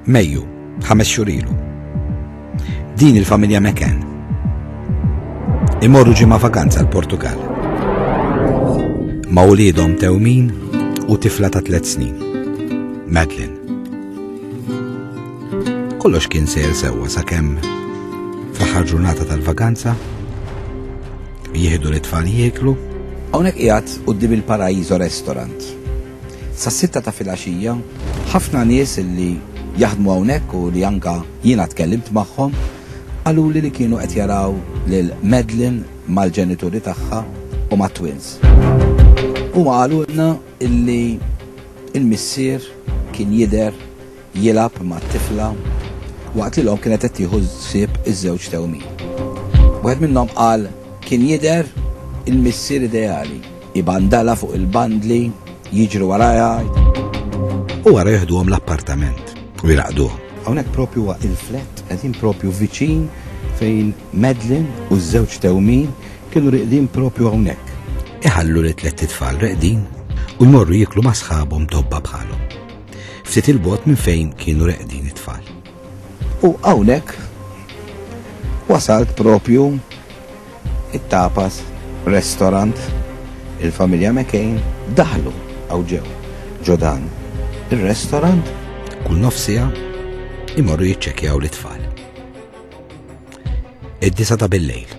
Mejju, ħames xurilu. Din il-familja Meken. Imorru ġimma vakanza l-Portugal. Ma' ulidhom tewmin u tifla ta' tliet snin. Madeline. Kollox kien sejr sewwa sakemm fl-aħħar ġurnata tal-vakanza jieħdu l-itfal jieklu. Hawnhekk qiegħed quddiem il-Paraíso Restaurant Sas-sitta ta' filgħaxija, ħafna nies li jaħdmu hawnhekk u li anke jiena tkellimt magħhom, qaluli li kienu qed jaraw lil Madeline mal-ġenituri tagħha u mat-twins. Huma qalulna li l-missier kien jidher jilgħab mat-tifla waqt li l-omm kienet qed tieħu ħsieb iż-żewġ tewmin. Wieħed minnhom qal, Kien jidher il-missier ideali, ibandala fuq il-bandli, jiġri warajha, u wara jieħduhom l-appartament u jraqduhom. Hawnhekk propju huwa il-flett qegħdin propju viċin fejn Medlin u ż-żewġ tewmin kienu riqdin propju hawnhekk. Iħallu li tliet tfal reqdin u jmorru jiklu ma' sħabhom tobba bħalhom. ftit il-bogħod minn fejn kienu reqdin it-tfal. U hawnhekk wasalt propju it-tapas restaurant il-familja McCain daħlu għaw ġew ġodan il-restaurant kull nofsija imorru jitċekjaw l-tfal. Id-disa ta' billejl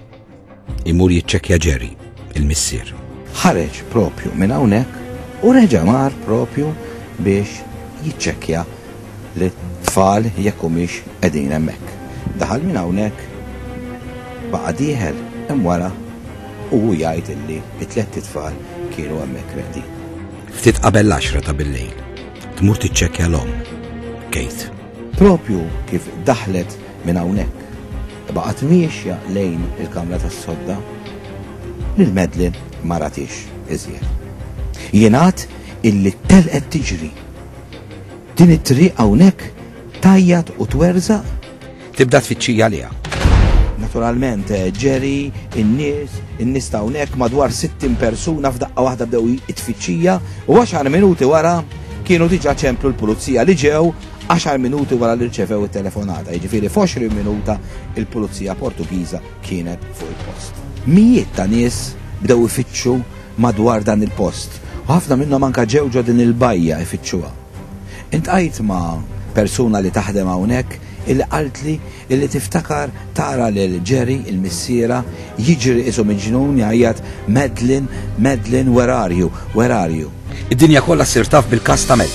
Imur jiċċekkja Jerry, il-missier. Ħareġ propju minn hawnhekk u reġa' mar propju biex jiċċekkja li tfal jekk humiex qegħdin hemmhekk. Daħal minn hawnhekk baqa' dieħel hemm wara u hu jgħid illi it-tletti tfal kienu hemmhekk reħdin. Ftit qabel l-10 ta' bil-lejl, tmur tiċċekkja l-om, Kate. Propju kif daħlet Minn hawnhekk, baqgħet miexja lejn il-kamra tas-sodda. Lil Madeline ma ratiex iżjed. Jingħad illi telqet tiġri. Din it-triq hawnhekk tajjat u twerżaq. Tibda tfittxija għaliha. Naturalment, eh, ġeri, in-nies, in-nies ta' hawnhekk madwar 60 persuna f'daqqa waħda bdew it-tfittxija u għaxar minuti wara kienu diġà ċemplu l-pulizija li ġew 10 minuti wara li rċevew it-telefonata, jiġifieri f'20 minuta il-Pulizija Portugiża kienet fuq il-post. Mijiet ta' nies bdew ifittxu madwar dan il-post u ħafna minnhom anke ġew ġo din il-bajja ifittxuha. Intqajt ma' persuna li taħdem hawnhekk illi qaltli illi tiftakar tara lil Gerry, il-missierha, jiġri qisu miġnun jgħajjat Madeline, Madeline, where are you, where are you? Id-dinja kollha ssir taf bil-każ ta' Mel.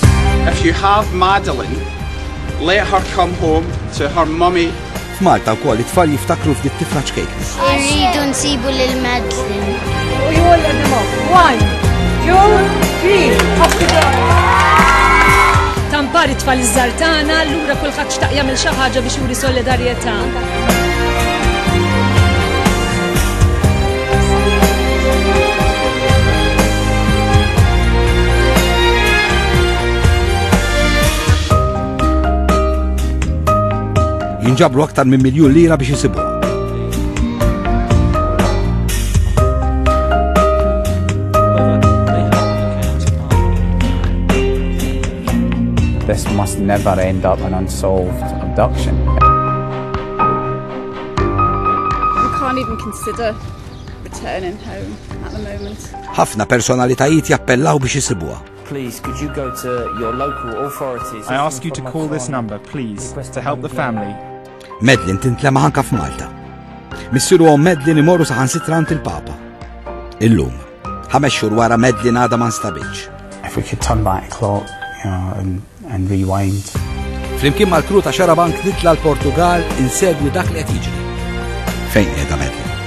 If you have Madeline, let her come home to her mummy. F'Malta wkoll it-tfal jiftakru f'dit tifla ċkejk. Irridu nsibu lil Madeline. U jgħol għadimok. One, two, three. Tampar it-tfal iż-żartana, allura kulħadd xtaq jagħmel xi ħaġa biex juri solidarjetà. jinġabru aktar minn miljun lira biex jisibu. This must never end up and unsolved. Abduction. I can't even consider returning home at the moment. Ħafna personalitajiet jappellaw biex isibuha. Please, could you go to your local authorities? I ask you to call this number, please, to help the family. Medlin tintlema ħanka f'Malta. Missiru għom Medlin imorru saħan sitrant il-Papa. Illum. Ħames xhur wara Madeline għadha ma nstabitx. If we could turn back clock you know, and, and rewind. Flimkien mal-kru ta' Xarabank nitla l-Portugal insegwi dak li qed jiġri. Fejn qiegħda Madeline?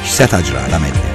X'seta' ġra la Madeline?